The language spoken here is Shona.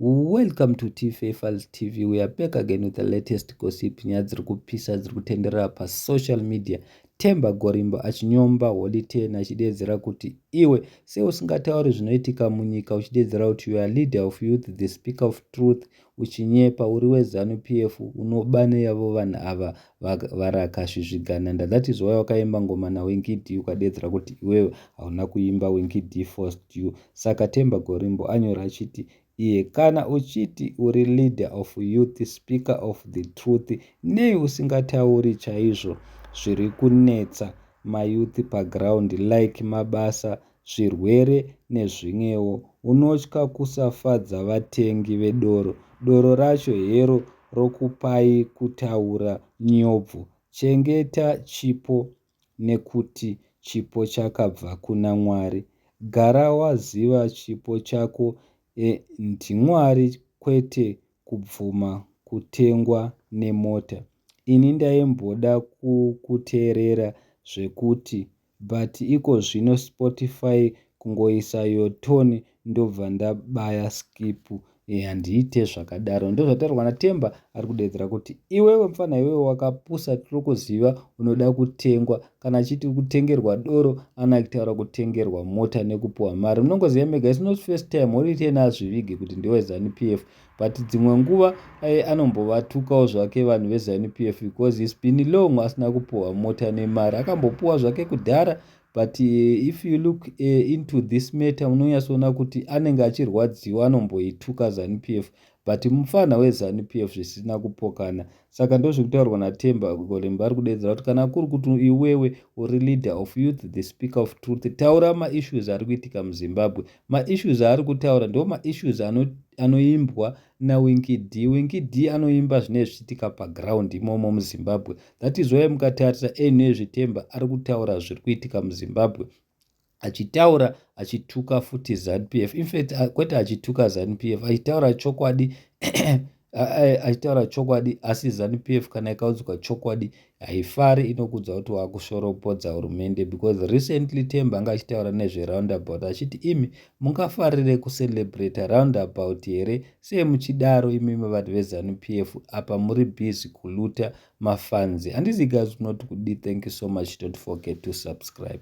Welcome to TFA Files TV. We are back again with the latest gossip nyaya dziri kupisa dziri kutenderera pasocial media. Temba Gorimbo achinyomba Holy Ten achideedzera kuti iwe seusingatauri zvinoitika munyika uchideedzera kuti you are leader of youth the speaker of truth uchinyepa uri weZanu PF unoba neyavo vanhu ava varakasvisvigana nda that is why wakaimba ngoma na winky d ukadeedzera kuti iwewe hauna kuimba winky d forced you saka temba gorimbo anyora achiti iye kana uchiti uri leader of youth speaker of the truth nei usingatauri chaizvo zviri kunetsa mayouth paground like mabasa zvirwere nezvimwewo. Unotya kusafadza vatengi vedoro. Doro racho hero rokupai kutaura nyobvu. Chengeta chipo nekuti chipo chakabva kuna Mwari. Gara waziva chipo chako ndiMwari kwete kubvuma kutengwa nemota. Ini ndaimboda kukuteerera zvekuti but ikozvino Spotify kungoisa your tone ndobva ndabaya skip Eeh handiite zvakadaro Ndozvataurwa na Themba ari kudeedzera kuti iwewe mfana iwewe wakapusa tiri kuziva unoda kutengwa kana achiti kutengerwa doro ana kutaura kutengerwa mota nekupuhwa mari munongoziva mega it's not first time holiday naazvivige kuti ndewe Zanu PF But dzimwe nguva aye anombovatukawo zvake vanhu veZanu PF because he's been long asina kupuhwa mota nemari. Akambopuhwa zvake kudhara but eh, if you look eh, into this matter unonyatsoona kuti anenge achirwadziwa anomboituka Zanu PF but mupfanha weZanu PF zvisina kupokana. Saka ndozviri kutaurwa na Themba Golemba ari kudeedzera kuti kana kuri kuti iwewe uri leader of youth the speaker of truth taura ma issues ari kuitika mu Zimbabwe ma issues aari kutaura ndiwo ma issues ano anoimbwa na Winky D Winky D anoimba zvinenge zvichiitika pa ground imomo mu Zimbabwe that is why mukatarisa anyway zve Themba ari kutaura zviri kuitika mu Zimbabwe achitaura achituka futi zanupf infact kwete achituka zanupf achitaura chokwadi achitaura chokwadi asi zanupf kana ikaudzwa chokwadi haifari inokudza kuti wakushoropodza hurumende because recently temba anga achitaura nezveroundabout achiti imi mungafarire kucelebrata roundabout here sei muchidaro imimi vanhu vezanupf apa muri busy kuluta mafans handizivi guys munoti kudii thank you so much don't forget to subscribe.